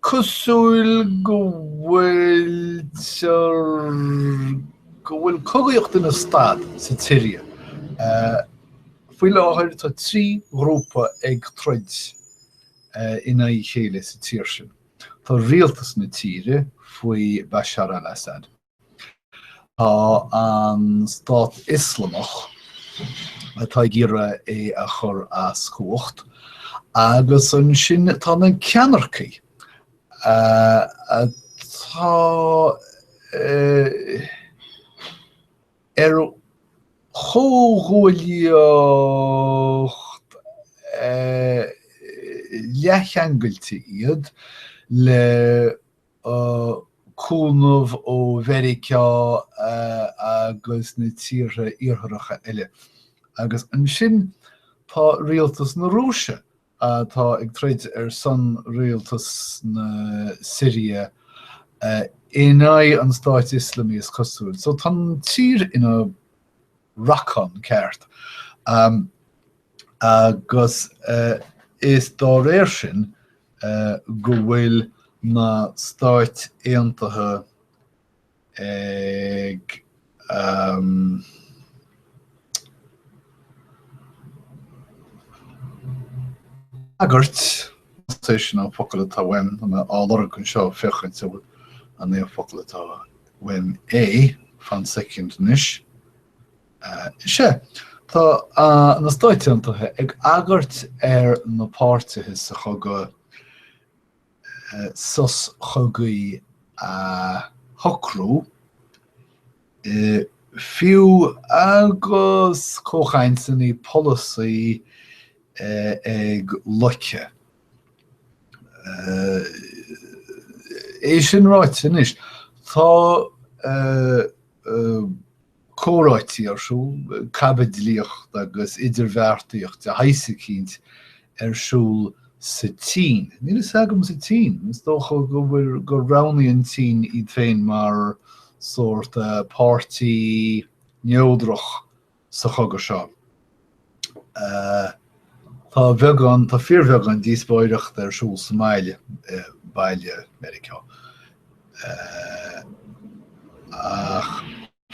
cosúil go bhfuiltear, go bhfuil cogaíocht ina stad sa tSiria. Faoi láthair tá trí ghrúpa ag troid in aghaidh a chéile sa tír sin. Tá rialtas na tíre faoi Bashar al-Assad. Tá an Stát Ioslamach, atá ag iarraidh é a chur as cumhacht, agus ansin tá na ceannaircí, atá ar comhghuaillíocht leathcheangailte iad le cúnamh ó Mheiriceá agus na tíortha iartharacha eile. Agus ansin tá rialtas na Rúise atá ag troid ar son rialtas na Siria in aghaidh an Stáit Ioslamaigh is cosúil. So tá an tír ina racán ceart. agus is dá réir sin go bhfuil na Stáit Aontaithe ag agairt, is é sin an focal atá uainn, tá mé á lorg anseo féachaint an é an focal atá uainn é, fan soicind anois, Is ea, tá na Stáit Aontaithe ag agairt ar na páirtithe sa chogadh sos cogaidh a shocrú, fiú agus comhchainteanna polaitíochta ag loiceadh. É sin ráite anois, tá comhráití ar siúl, caibidlíocht agus idirbheartaíocht de shaghas eicínt ar siúl sa tSín. Níl fhios agam sa tSín, is dócha go bhfuil, go roghnódh an tSín iad féin mar sórt páirtí neodrach sa chogadh seo. Tá beagán, tá fíorbheagán díospóireachta ar siúl sa mbaile, baile Meiriceá. Ach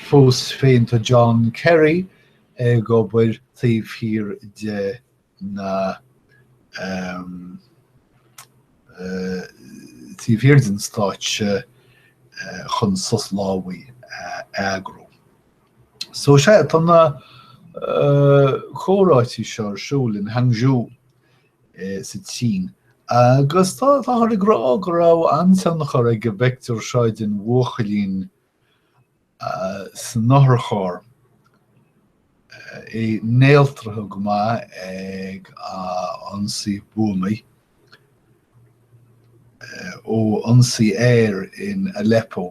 fós féin tá John Kerry ag obair taobh thiar de na, taobh thiar den stáitse chun sos lámhaigh a eagrú. So sea, tá na comhráití seo ar siúl in Hangzhou sa tSín agus táthar ag rá go raibh an-tionchar ag an bpictiúr seo den bhuachaillín san otharcharr, é néaltraithe go maith ag a ionsaí buamaí ó ionsaí aeir in Aleppo.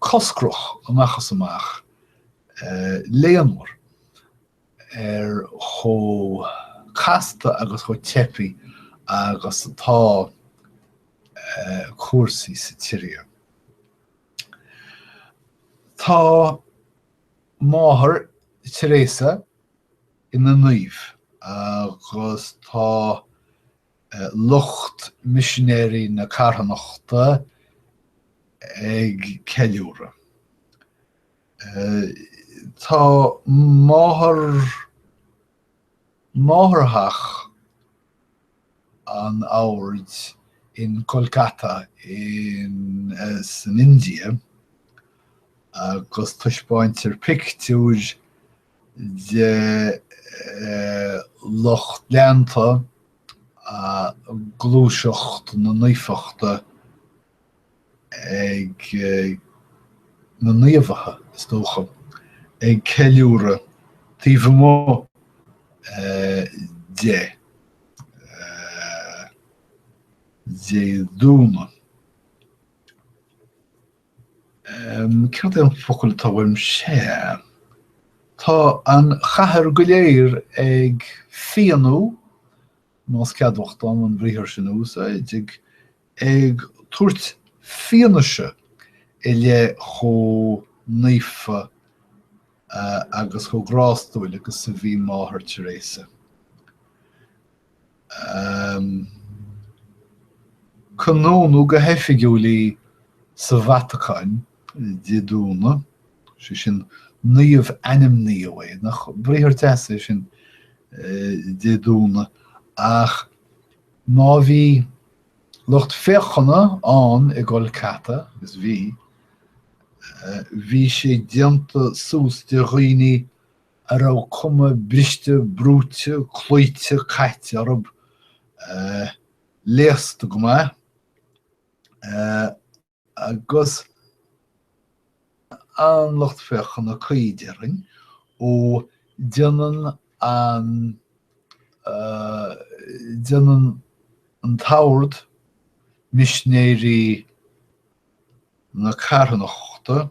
coscrach amach is amach, léamh mór ar chomh casta agus chomh teibí agus atá cúrsaí sa tSiria. Tá máthair Teresa ina naomh agus tá Lucht Misinéirí na Carthanachta ag ceiliúradh. Tá máthair máthairtheach an oird in Kolkata san India agus taispeáintear pictiúir de lucht leanta gluaiseacht na naofachta ag na naomhacha, is dócha, ag ceiliúradh taobh amuigh de, Dé Domhnaigh. Cad é an focal atá uaim? Sea. Tá an chathair go léir ag fianú, más ceadmhach dom an briathar sin a úsáid, ag tabhairt fianaise i leith chomh naofa agus chomh grástúil agus a bhí Máthair Teresa. Canónadh go hoifigiúil í sa Vatacáin, Dé Domhnaigh, sé sin, naomhainmníodh í, nach briathar deas é sin, Dé Domhnaigh, ach má bhí lucht féachana ann i gKolkata, agus bhí, bhí sé déanta suas de dhaoine a raibh cuma briste brúite cloíte caite orthu, léasta go maith agus an lucht féachana cad déarfainn, ó déanann an déanann an t-ord Misinéirí na Carthanachta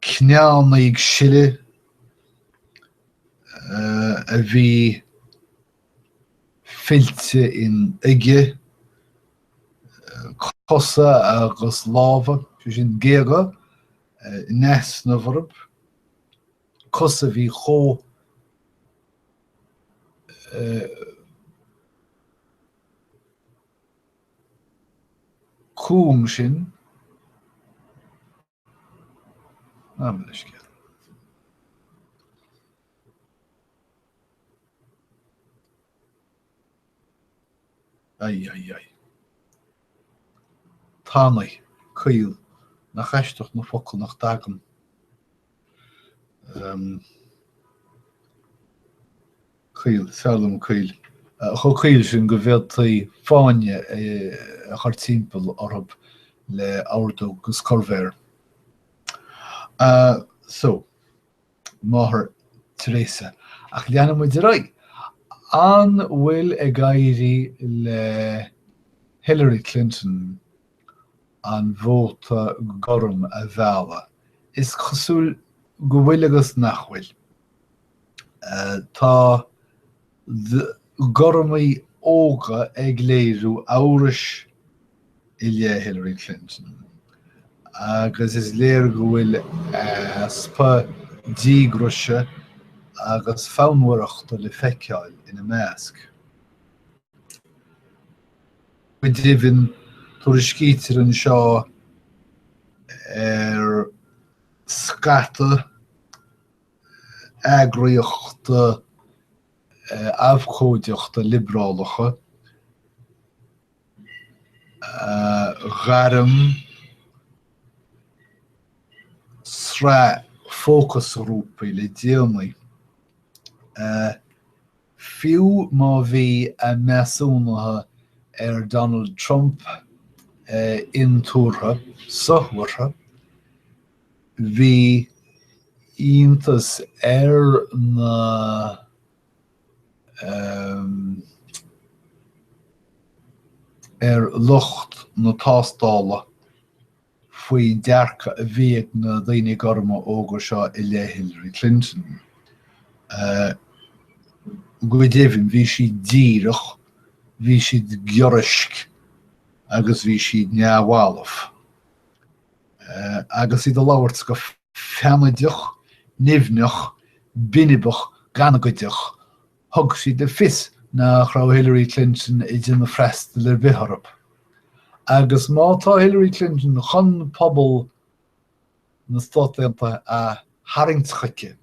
cneánna ag sileadh a bhí fillte in uige cosa agus lámha, sé sin géaga, in easnamh orthu, cosa a bhí chomh cúng sin, gabh mo leithscéal. Ai, ai, ai. Tanaí, caol, nach aisteach na focail nach dtagann. Caol, fearr liom caol. Chomh caol sin go bhféadfaí fáinne a chur timpeall orthu le hordóg agus corrmhéar. So, Máthair Teresa. Ach leanfaidh muid ar aghaidh. An bhfuil ag éirí le Hillary Clinton an vóta gorm a mhealladh. Is cosúil go bhfuil agus nach bhfuil. Tá gormaigh óga ag léiriú amhrais i leith Hillary Clinton agus is léir go bhfuil easpa díograise agus fonnmhaireachta le feiceáil ina measc. Go deimhin, tuairiscítear anseo ar scata eagraíochta abhcóideachta liobrálacha, ghairm sraith fócasghrúpaí le déanaí. Fiú má bhí a measúnuithe ar Donald Trump intuartha sothuartha, bhí iontas ar na ar lucht na tástála. faoin dearcadh a bhí ag na daoine gorma óga seo i leith Hillary Clinton. Go deimhin, bhí siad díreach, bhí siad giorraisc agus bhí siad neamhbhalbh. Agus iad ag labhairt go feannaideach, nimhneach, binibeach, gangaideach Thug siad le fios nach raibh Hillary Clinton ag déanamh freastail ar bith orthu. Agus má tá Hillary Clinton chun pobal na Stát Aontaithe a tharraingt chuici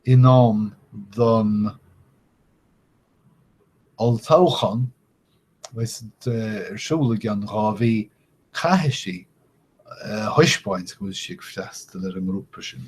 in am don olltoghchán a bheas ar siúl i gceann dhá mhí, caithfidh sí a thaispeáint go bhfuil sí ag freastal ar an ngrúpa sin.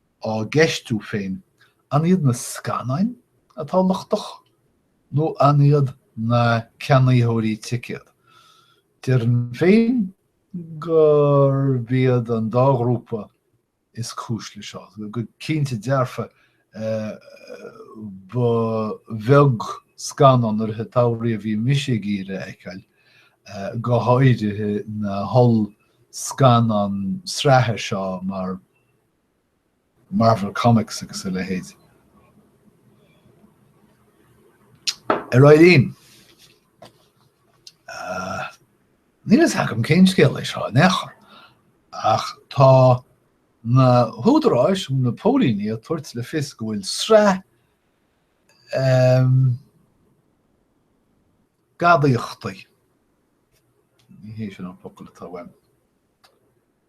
á gceistiú féin, an iad na scannáin atá lochtach nó an iad na ceannaitheoirí ticéad? Déarfainn féin gurb iad an dá ghrúpa is cúis leis seo. Go cinnte dearfa ba bheag scannán i rith an tsamhraidh a bhí mise ag iarraidh a fheiceáil, go háirithe na holl-scannáin sraithe seo mar. Marvel Comics agus a leithéid. A Eileen, níl a fhios agam cén scéal é seo in aon chor, ach tá na húdaráis, na póilíní ag tabhairt le fios go bhfuil sraith gadaíochtaí, ní hé sin an focal atá uaim,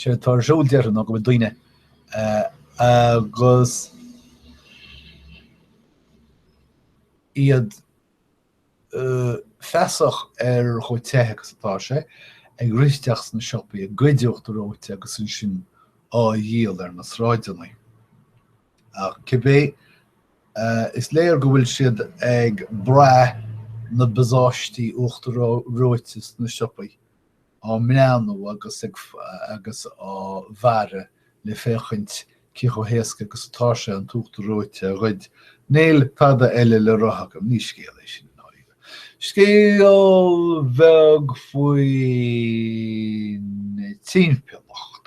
Séard atá ar siúl déarfainn ná go bhfuil daoine agus iad feasach ar chomh te agus atá sé, ag rith isteach sna siopaí, ag goid uachtar reoite agus ansin á dhíol ar na sráideanna. Ach cibé, is léir go bhfuil siad ag brath na bpacáistí uachtar reoite sna siopaí. á mbreathnú agus ag agus á bhfaire le féachaint cé chomh héasca agus atá sé an t-uachtar reoite a ghoid. Níl tada eile le rá agam, ní scéal é sin i ndáiríre. Scéal beag faoin timpeallacht.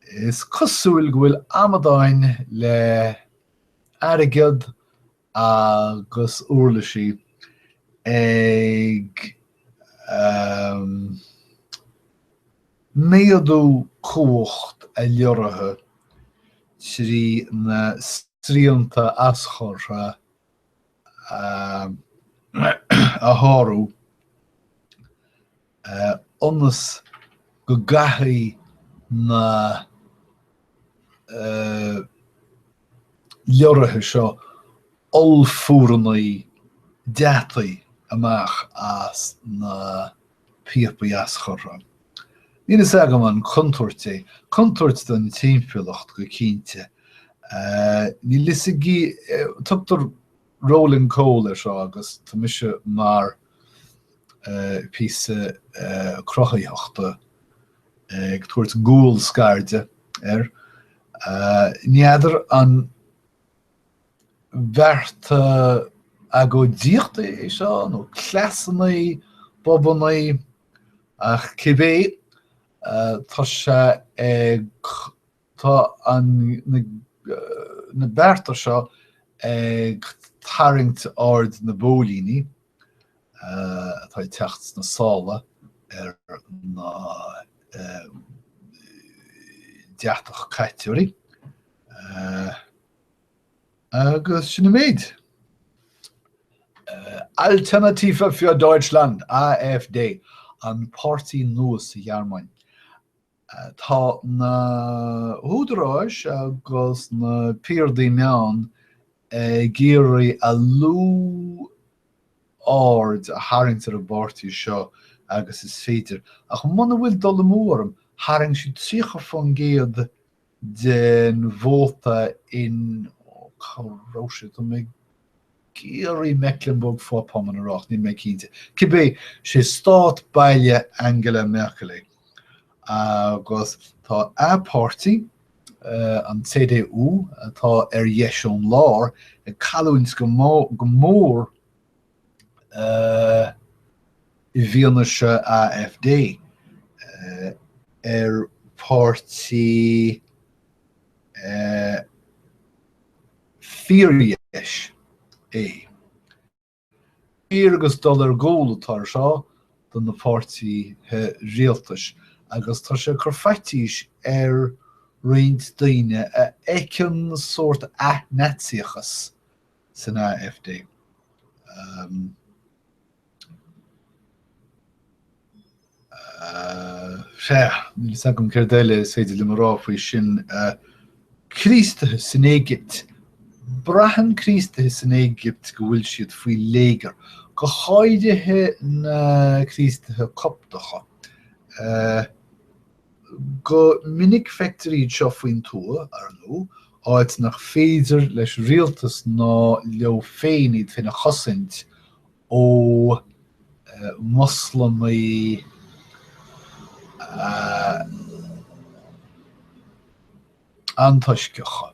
Is cosúil go bhfuil amadáin le airgead agus úirlisí ag méadú cumhacht a leoraithe trí na srianta aschuir a shárú. ionas go gcaithfidh na leoraithe seo ollphúireanna deataí amach as na píopaí aschurtha. Níl fhios agam an contúirt é, contúirt don timpeallacht go cinnte. Níl fhios ag, tugtar Rolling Coal air seo agus tá mise mar píosa cruthaitheachta ag tabhairt gual scairde air. N'fheadar an bearta agóidíochta é seo nó cleasanna, bobanna ach cibé tá sé ag Tá na bearta seo ag tarraingt aird na bpóilíní atá ag teacht sna sála ar na deatach caiteoirí agus sin an méid. Alternative für Deutschland, AfD, an páirtí nua sa Ghearmáin, Tá na húdaráis agus na piardaí meán ag iarraidh a lú aird a tharraingt ar an bpáirtí seo agus is féidir, ach muna bhfuil dul amú orm, tharraing siad 30% den vóta in, ó cá raibh sé, tá mé ag iarraidh Mecklenburg-Vorpommern a rá ach níl mé cinnte. Cibé, sé stát baile Angela Merkel é agus tá a páirtí, an CDU, atá ar dheis an láir, ag cailliúint go mór i bhfianaise AfD, ar páirtí fíordheis é. Fíor agus dul ar gcúl atá air seo do na páirtithe rialtais agus tá sé ag cur faitíos ar roinnt daoine a fheiceann sórt ath-Naitsíochas san AfD. Níl fhios agam céard eile is féidir liom a rá faoi sin. Críostaithe san Éigipt, braitheann Críostaithe san Éigipt go bhfuil siad faoi léigear, go háirithe na Críostaithe Coptacha. Go minic feictear iad seo faoin tuath, ar ndú, áit nach féidir leis an rialtas ná leo féin iad féin a chosaint ó Mhoslamaigh antoisceacha,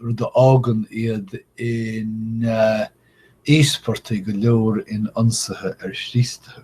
rud a fhágann iad ina n-íospartaigh go leor in ionsaithe ar Chríostaithe.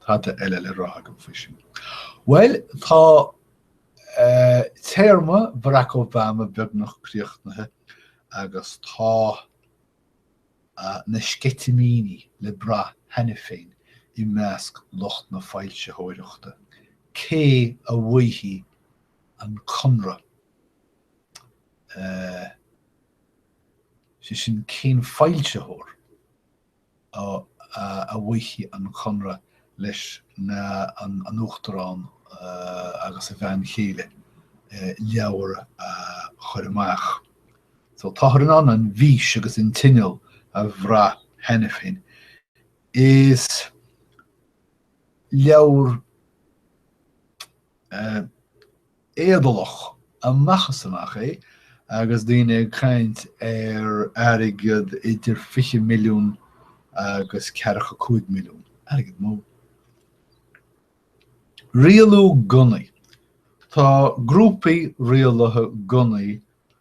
Tada eile le rá agam faoi sin. Bhuel, tá téarma Barack Obama beagnach críochnaithe agus tá na sceitimíní le brath cheana féin i measc lucht na foilsitheoireachta cé a bhuafaidh an conradh, sé sin cén foilsitheoir a bhuafaidh an conradh leis an Uachtarán agus a bhean chéile leabhar a chur amach. So táthar in ann an bhfís agus an tinneall a bhrath cheana féin. Is leabhar éadálach amach is amach é agus daoine ag caint ar airgead idir fiche milliún agus ceathracha cúig milliún. Airgead mór. Rialú gunnaí. Tá grúpaí rialaithe gunnaí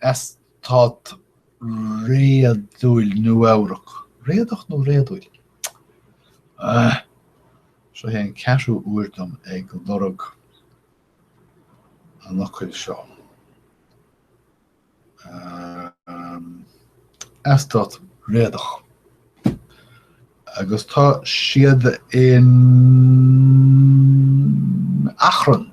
Eastát réadúil Nua-Eabhrac, réadach nó réadúil? Ah, seo é an ceathrú uair dom ag lorg an fhocail seo. Eastát réadach. Agus tá siad in achrann.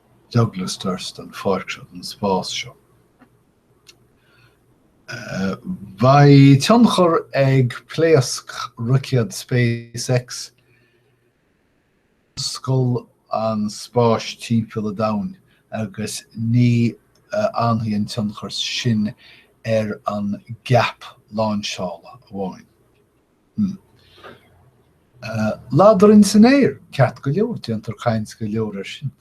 Douglas Durst an pháirc seo, an spás seo. Beidh tionchar ag pléasc Roicéad SpaceX ar thionscal an spáis timpeall an domhain agus ní fhanfaidh an tionchar sin ar an gceap lainseála amháin. Ladrainn san aer, ceart go leor, déantar caint go leor ar sin,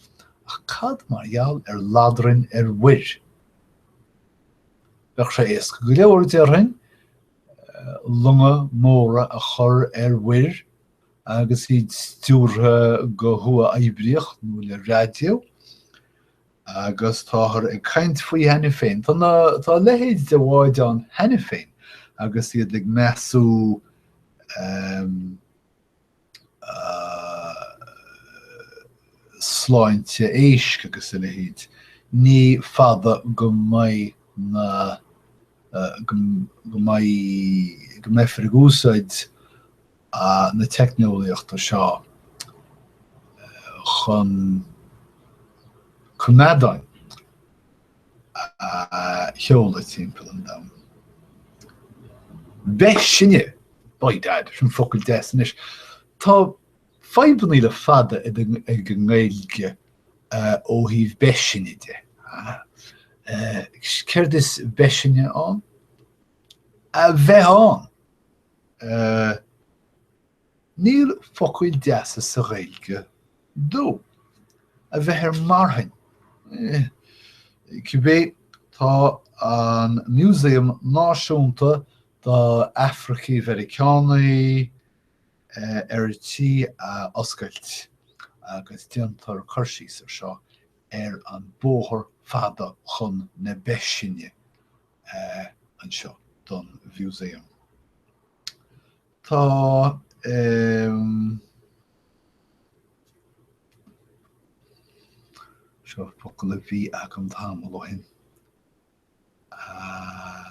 ach cad mar gheall ar ladrainn ar mhuir? Bheadh sé éasca go leor, déarfainn, longa móra a chur ar mhuir agus iad stiúrtha go huathoibríoch nó le raidió, Agus táthar ag caint faoi cheana féin, tá a leithéid de bháid ann cheana féin agus iad ag measú sláinte éisc agus a leithéid. Ní fada go mbeidh go mbeidh go mbeifear ag úsáid na teicneolaíochta seo chun coimeádáin a sheoladh timpeall an domhain. Beithsine! By dad, sin focal deas anois. Tá fadhbanna le fada ag an nGaeilge ó thaobh beithsine de. Céard is beithsine ann? A bheith ann! Níl focail deasa sa Ghaeilge dó. A bheith ar marthain. Cibé, tá an Músaem Náisiúnta do Afracaigh Mheiriceánaigh ar tí a oscailt agus déantar cur síos ar seo ar an bóthar fada chun na beithsine. anseo don mhúsaem. Tá seo focal a bhí agam tamall ó shin. Ah.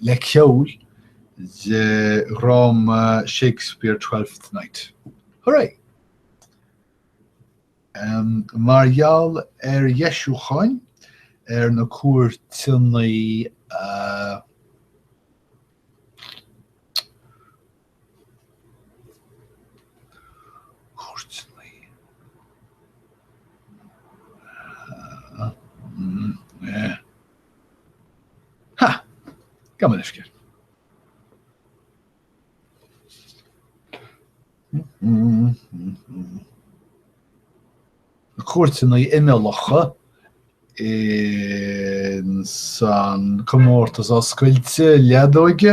le ceol de dhráma Shakespeare Twelfth Night. Hurray! Mar gheall ar dheisiúcháin ar na cúirteanna cúirteanna imeallacha insan comórtas oscailte leadóige